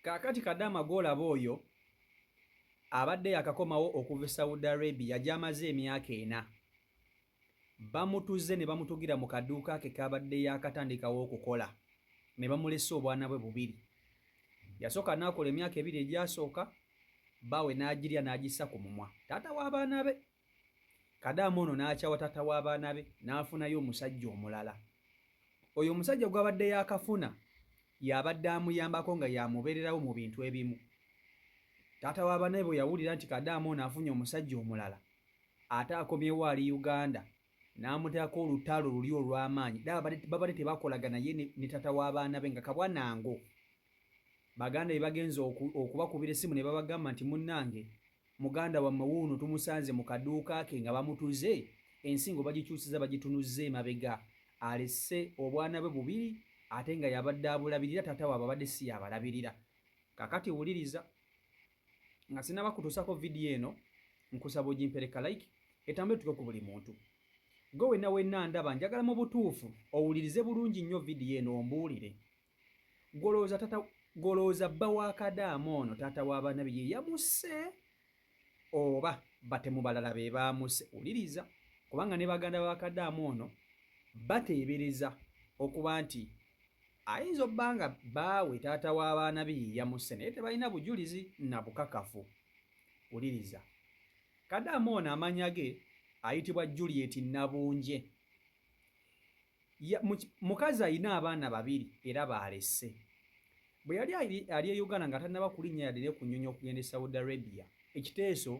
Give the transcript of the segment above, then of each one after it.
Kaakati Kadaama gw'olaba oyo abadde yakakomawo okuva e Saudi Arabia gy'amaze emyaka ena, bamutuze ne bamutugira mu kaduuka ke k'abadde yaakatandikawo okukola ne bamulesa obwana bwe bubiri. Yasooka n'akola emyaka ebiri egyasooka, bbaawe n'agirya n'agissa ku mumwa, taata w'abaana be. kadaama ono n'akyawa taata w'abaana be n'afunayo omusajja omulala oyo omusajja gw'abadde yaakafuna y'abadde amuyambako nga y'amubeererawo mu bintu ebimu taata w'abaana be bwe yawulira nti kadaama ono afunye omusajja omulala ate akomyewo ali uganda n'amuteekako olutalo luli olw'amaanyi babadde tebakolagana ye ne taata w'abaana be nga kabwa nango baganda be bagenze okubakubira essimu ne babagamba nti munnange Muganda wammwe wuuno tumusanze mu kaduuka ke nga bamutuze, ensingo bagikyusizza bagitunuzza emabega. Alese obwana bwe bubiri ate nga y'abadde abulabirira, taata waabwe abadde si y'abalabirira. Kaakati wuliriza. Nga sinnaba kutuusako vidiyo eno, nkusaba ogimpere ka like, etambule etuuke ku buli muntu. Ggwe wenna wenna andaba, njagala mu butuufu owulirize bulungi nnyo vidiyo eno ombuulire Golooza tata golooza bba wa kadaama ono taata w'abaana be ye yamusse oba batemu balala be baamusse? Wuliriza kubanga ne baganda ba kadaama ono bateebereza okuba nti ayinza obba nga baawe taata w'abaana be ye yamusse naye tebalina bujulizi na bukakafu. Wuliriza. Kadaama ono amanya ge ayitibwa Juliet Nabunje. mukazi alina abaana babiri era baalese bwe yali ali e uganda nga tannaba kulinnya yadde ne ku nnyonyi okugenda e saudi arabia ekiteeso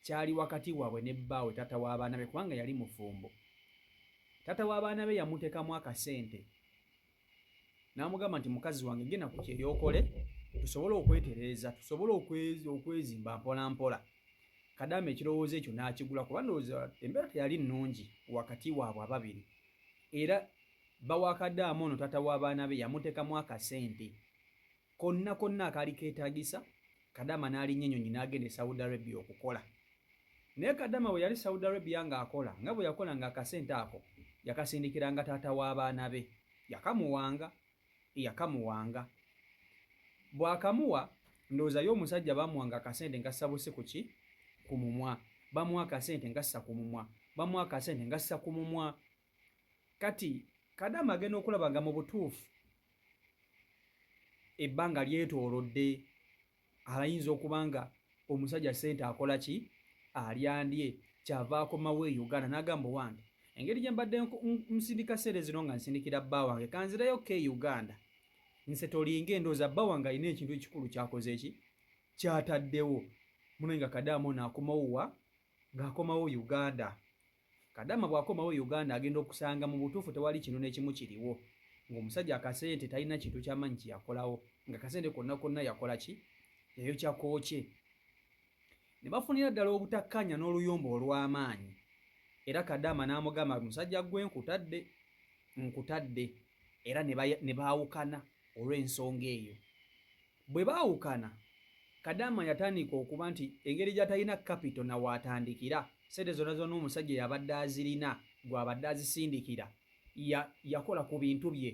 kyali wakati waabwe ne bbaawe taata w'abaana be kubanga yali mufumbo taata w'abaana be yamuteekamu akasente n'amugamba nti mukazi wange genda ku kyeyo okole tusobole okwetereeza tusobole okwezimba mpolampola kadaama ekirowoozo ekyo n'akigula kuba ndowooza embeera teyali nnungi wakati waabwe ababiri era bawakadaama ono taata w'abaana be yamuteekamu akasente konna konna akaali keetaagisa Kadama n'alinnya ennyonyi n'agenda e Saudi Arabia okukola. Naye Kadama bwe yali Saudi Arabia ng'akola nga bwe yakola ng'akasente ako yakasindikiranga taata w'abaana be yakamuwanga yakamuwanga bw'akamuwa ndowooza ye omusajja bamuwanga akasente nga sabusi ku ki ku mumwa bamuwa akasente nga ssa ku mumwa bamuwa akasente nga ssa ku mumwa Kati Kadama agenda okulaba nga mu butuufu ebbanga lyetoolodde, alayinza okuba nga omusajja ssente akola ki alyandye kyava akomawo e Uganda n'agamba owange engeri gye mbadde nsindika ssente zino nga nsindikira bba wange kanzireyo ko e Uganda nse tolinga endooza bba wange alina ekintu ekikulu kyakoze ki kyataddewo muno nga kadaama ono akomawo wa ng'akomawo Uganda. Kadama bwakomawo Uganda agenda okusanga mubutuufu tewali kintu nekimu kiriwo ngomusajja akasente talina kintu kyamanyi kyeyakolawo nga kasente konna konna yakola ki yayokya kookye nebafunira ddala obutakkanya n'oluyombo olwamaanyi era Kadama n'amugamba musajja gwe nkutadde nkutadde era nebaawukana olw'ensonga eyo. Bwe baawukana, Kadaama yatandika okuba nti engeri gy'atalina kapito na w'atandikira, ssente zonna zonna omusajja yabadde azirina gw'abadde azisindikira, ya, yakola ku bintu bye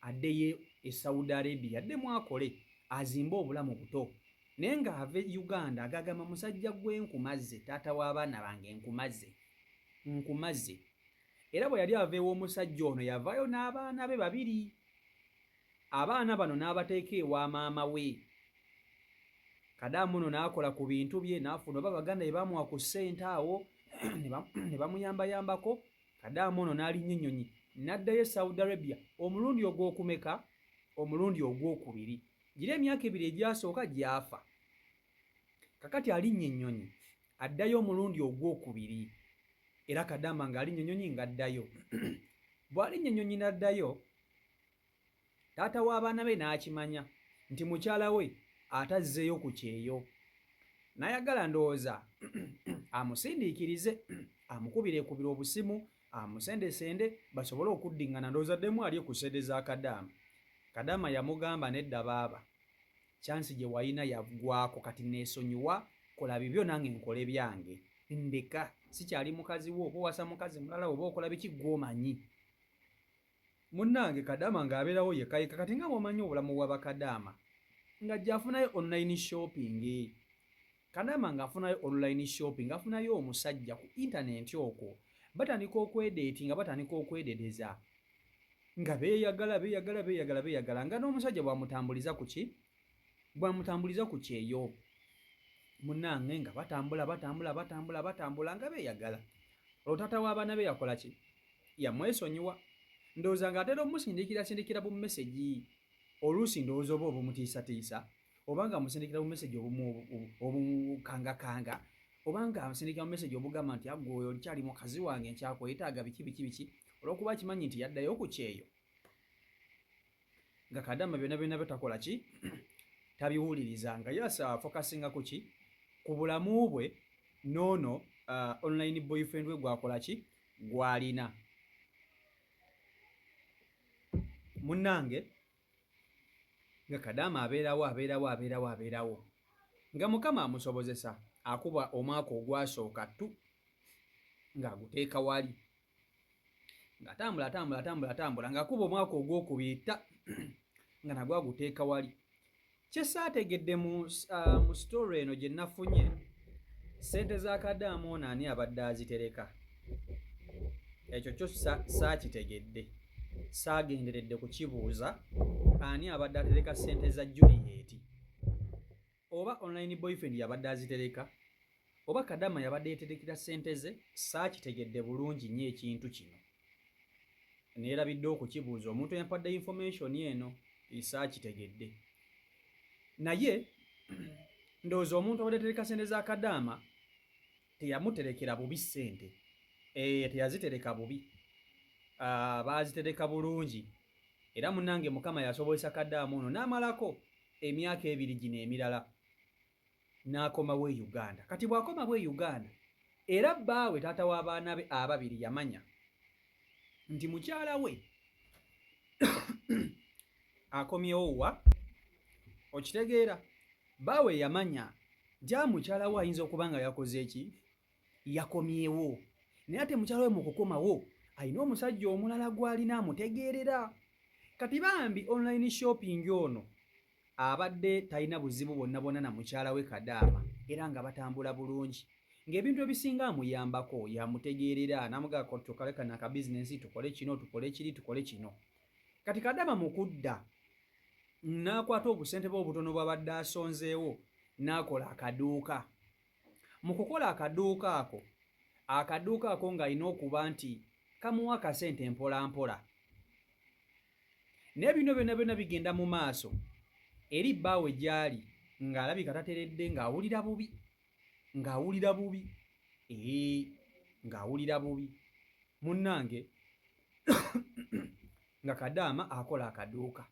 addeyo e Saudi Arabia addemu akole azimbe obulamu buto. Naye ng'ava e Uganda agagamba, Musajja ggwe nkumaze, taata w'abaana bange nkumaze, nkumaze. Era bwe yali ava ew'omusajja ono yavaayo n'abaana be babiri. Abaana bano n'abateeka ewa maama we. Kadaamu ono n'akola ku bintu bye n'afuna oba baganda be baamuwa ku ssente awo ne bamuyambayambako. Kadaamu ono n'alinnya ennyonyi n'addayo e Saudi Arabia omulundi ogw'okumeka? Omulundi ogw'okubiri. Gira emyaka ebiri egyasooka gy'afa. Kakati alinnya ennyonyi addayo omulundi ogw'okubiri era kadaama ng'alinnya ennyonyi ng'addayo bw'alinnya ennyonyi n'addayo taata w'abaana be n'akimanya nti mukyala we atazzeeyo ku kyeyo n'ayagala ndowooza amusindiikirize amukubirekubira obusimu amusendesende basobole okuddiŋŋana ndowooza ddemu alye ku sede za kadaama kadaama yamugamba nedda baaba kyansi gye walina yaggwako kati neesonyiwa kola bibyo nange nkole byange ndeka sikyali mukazi wo oba owasa mukazi mulala oba okola biki gwomanyi Munange kadaama nga aberawo yeka yeka kati nga bwomanyi obulamu bwa bakadaama nga jafunayo online shopping kadaama nga afunayo online shopping afunayo omusajja ku internet okwo batandika okwedeti nga batandika okwededeza nga beyagala beyagala beyagala beyagala nga n'omusajja bwamutambuliza kuki bwamutambuliza ku kyeyo munange nga batambula batambula batambula batambula nga beyagala olwo taata w'abaana be yakola ki yamwesonyiwa ndowooza nga atera omusindikira sindikira bu mesegi oluusi ndowooza oba obumutiisatiisa oba nga amusindikira bu mesegi obukangakanga oba nga amusindikira bu mesegi obugamba nti agwe oyo olikyali mukazi wange nkyakwetaaga biki biki biki olwokuba akimanyi nti yaddayo ku kyeyo nga kadama byona byona byo takola ki tabiwuliriza nga yasa focusinga ku ki ku bulamu bwe nono uh, online boyfriend we gwakola ki gwalina munange nga kadama abeerawo abeerawo abeerawo abeerawo nga mukama amusobozesa akuba omwaka ogwasooka tu ng'aguteeka wali ng'atambula atambula atambula atambula ng'akuba omwaka ogwokubiri ta nga nagwo aguteeka wali kye saategedde mu uh, sitore eno gye nafunye ssente za kadaamoona ani abadde azitereka ekyo kyo saakitegedde saagenderedde kukibuuza ani abadde atereka ssente za juliyeti Oba online boyfriend yabadde azitereka oba kadama yabadde yeterekera sente ze saakitegedde bulungi nyo ekintu kino neerabidde okukibuuza omuntu eyampadde information eno saakitegedde naye ndowooza omuntu abadde atereka sente za kadaama teyamuterekera bubi ssente eyo eh, teyazitereka bubi ah, baazitereka bulungi era munange mukama yasobozesa kadaamu ono n'amalako emyaka ebiri gino emirala n'akomawo e uganda kati bw'akomawo e uganda era bbaawe taata w'abaana be ababiri yamanya nti mukyala we akomyewo wa okitegeera Bbaawe yamanya nti a mukyala we ayinza okuba nga yakoze ki? Yakomyewo. Naye ate mukyala we mu kukomawo alina omusajja omulala gw'alina amutegeerera. Kati bambi online shopping ono abadde talina buzibu bwonna bwonna na mukyala we Kadaama era nga batambula bulungi. Ng'ebintu ebisinga amuyambako, y'amutegeerera n'amugamba kati tukalekane akabizinensi tukole kino, tukole kiri, tukole kino. Kati Kadama mu kudda n'akwata obusente bwe obutono bw'abadde asonzeewo n'akola akaduuka. Mu kukola akaduuka ako, akaduuka ako ng'alina okuba nti kamuwa akasente mpolampola. Naye bino byonna byonna bigenda mu maaso eri bbaawe gy'ali ng'alabika tateredde ng'awulira bubi ng'awulira bubi ee ng'awulira bubi munnange nga kadaama akola akaduuka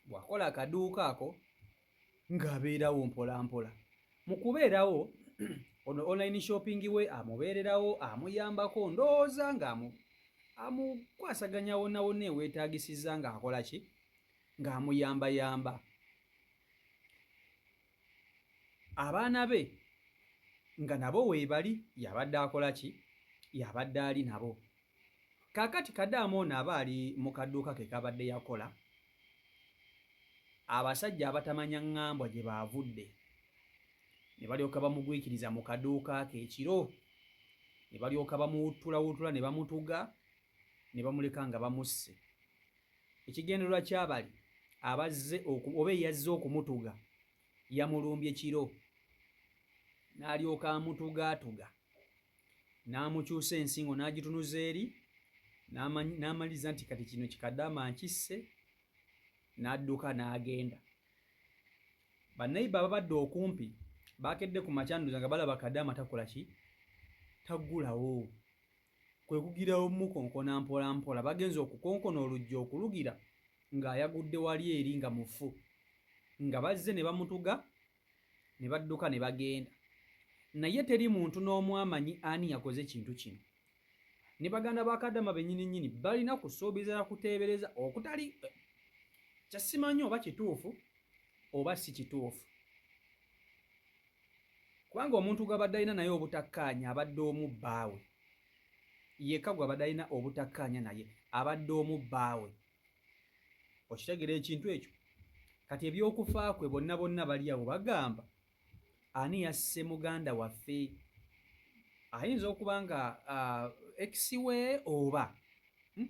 bwakola akaduuka ako ng'abeerawo mpolampola mu kubeerawo ono online shopping we amubeererawo amuyambako ndowooza ng'amu amukwasaganya wonna wonna eweetaagisizza ng'akola ki ng'amuyambayamba abaana be nga nabo weebali y'abadde akola ki y'abadde ali nabo kaakati kadaama ono aba ali mu kaduuka ke kabadde yakola abasajja abatamanya ŋŋambwa gye baavudde ne balyoka bamugwikiriza mu kaduuka ke ekiro ne balyoka bamuwuttulawuttula ne bamutuga ne bamuleka nga bamusse Ekigendererwa ky'abali abazze oba eyazze okumutuga yamulumbye kiro n'alyoka amutugaatuga n'amukyusa ensingo n'agitunuza eri n'amaliriza nti kati kino kikadama nkisse n'adduka n'agenda bannayibba ababadde okumpi baakedde ku makyanduza nga balaba kadaama takola ki taggulawo kwe kugira omukonkona mpolampola bagenze okukonkona oluggi okulugira ng'ayagudde wali eri nga mufu nga bazze ne bamutuga ne badduka ne bagenda naye teri muntu n'omu amanyi ani yakoze ekintu kino ne baganda ba kadama bennyini nnyini balina kusuubiza na kuteebereza okutali kyasimanyi oba kituufu oba si kituufu kubanga omuntu gwabadde alina naye obutakkaanya abadde omu bbaawe yekka gwabadde alina obutakkaanya naye abadde omu bbaawe okitegera ekintu ekyo kati ebyokufa kwe bonna bonna bali awo bagamba ani yasse muganda waffe ayinza okuba nga ex we oba hmm?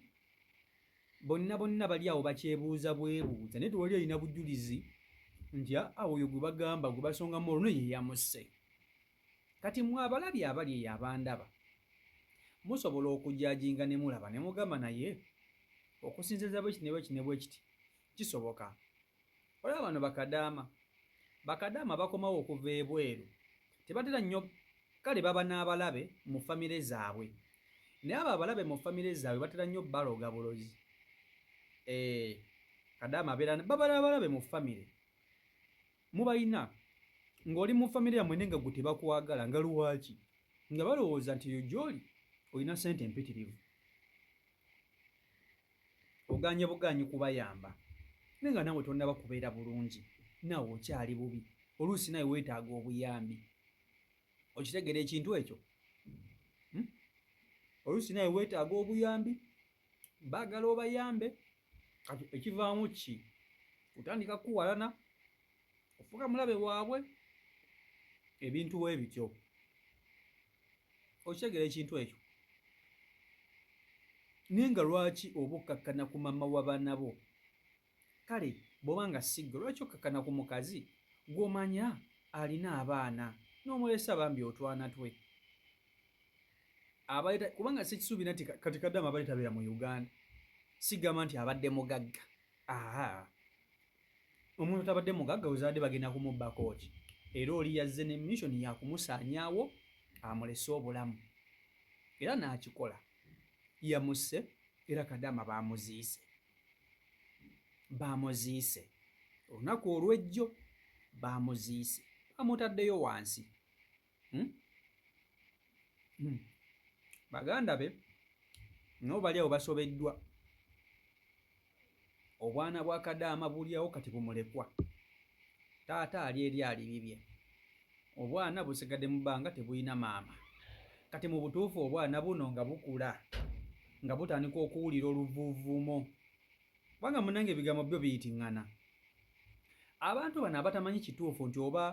bonna bonna bali awo bakyebuuza bwebuuza naye tewali alina bujulizi nti aa oyo gwe bagamba gwe basonga mu oluno ye yamusse kati mwe abalabi abali eyo abandaba musobola okujajinga ne mulaba ne mugamba naye okusinziza bwekiti ne bwekiti ne bwekiti kisoboka olaba bano bakadaama bakadaama bakomawo okuva ebweru tebatera nnyo kale baba n'abalabe mu famire zaabwe naye abo abalabe mu famire zaabwe batera nnyo baloga bulozi eh, kadaama abeera babala abalabe mu famire mubalina ng'oli mu famire yamwe ne nga gwe tebakwagala nga luwaki nga balowooza nti yo gyoli olina sente empitirivu oganye buganyi kubayamba naye nga nawe tonaba kubeera bulungi nawe okyali bubi oluusi nawe wetaaga obuyambi okitegera ekintu ekyo hmm? oluusi nawe wetaaga obuyambi bagala obayambe kati ekivaamu ki kutandika kuwalana ofuka mulabe waabwe ebintu webityo okitegera ekintu ekyo naye nga lwaki oba okkakkana ku mama wa baana bo kale bwoba nga sigwe lwaki okkakkana ku mukazi gwomanya alina abaana nomulesa bambi otwana twe abaleta kubanga sikisuubira nti kati kadama abaletabeera mu uganda sigamba nti abadde mugagga aa omuntu tabadde mugagga ozadde bagenda kumubbakoki era oli yazze ne mission yakumusaanyawo amulese obulamu era n'akikola yamusse era kadaama baamuziise baamuziise olunaku olwejjo baamuziise bamutaddeyo wansi hmm? Hmm. baganda be nabo bali awo basobeddwa obwana bwa kadaama bulyawo kati bumulekwa taata ali eri alibibye obwana busigadde mu bbanga tebulina maama kati mu butuufu obwana buno nga bukula nga butandika okuwulira oluvuvumo kubanga munange ebigambo byo biyitiŋŋana abantu bano abatamanyi kituufu nti oba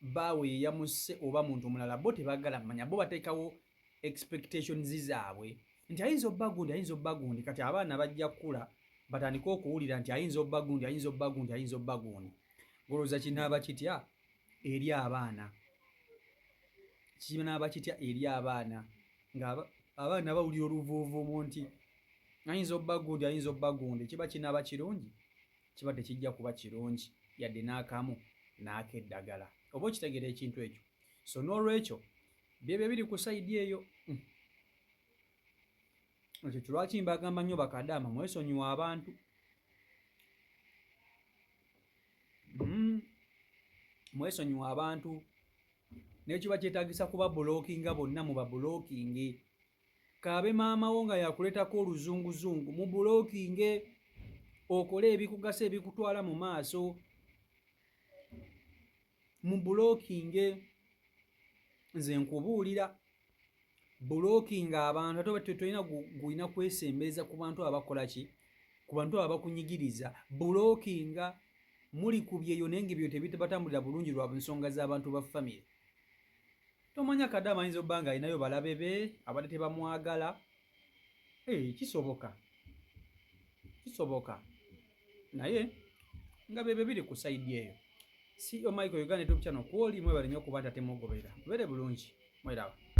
bbaawe yeyamusse oba muntu mulala bo tebagala manya bo batekawo expectations zaabwe nti ayinza obba gundi ayinza obba gundi kati abaana bajja kukula batandike okuwulira nti ayinza obba gundi ayinza obba gundi ayinza obba gundi golowooza kinaaba kitya eri abaana kinaaba kitya eri abaana nga abaana bawulira oluvuuvuumu nti ayinza obba gundi ayinza obba gundi kiba kinaaba kirungi Kiba tekijja kuba kirungi yadde n'akamu n'akeddagala. Oba okitegera ekintu ekyo? So n'olwekyo byebyo ebiri ku sayidi eyo. Hmm. Ekyo kilwaki mbagamba nnyo bakadaama mwesonyiwa abantu. Hmm. Mwesonyiwa abantu. Nekiba kyetagisa kuba bulokinga bonna mu babulokingi. kaabe maama wo nga yakuleetako oluzunguzungu mu bulookinge okole ebikugasa ebikutwala mu maaso mu bulookinge nze nkubuulira bulookinga abantu ate obatyo tolina gulina kwesembereza ku bantu abakola ki ku bantu abo bakunyigiriza bulookinga muli ku byeyo naye nga ebyo tebibatambulira bulungi lwa nsonga z'abantu ba famire Tomanya kadama ayinza obba nga alinayo balabe be abadde tebamwagala hey, eh, kisoboka kisoboka naye nga bebe biri ku saidi eyo si omaiko e uganda etopchano kwoli mwebale nyo okuba ntatemugobera bere bulungi mwerawo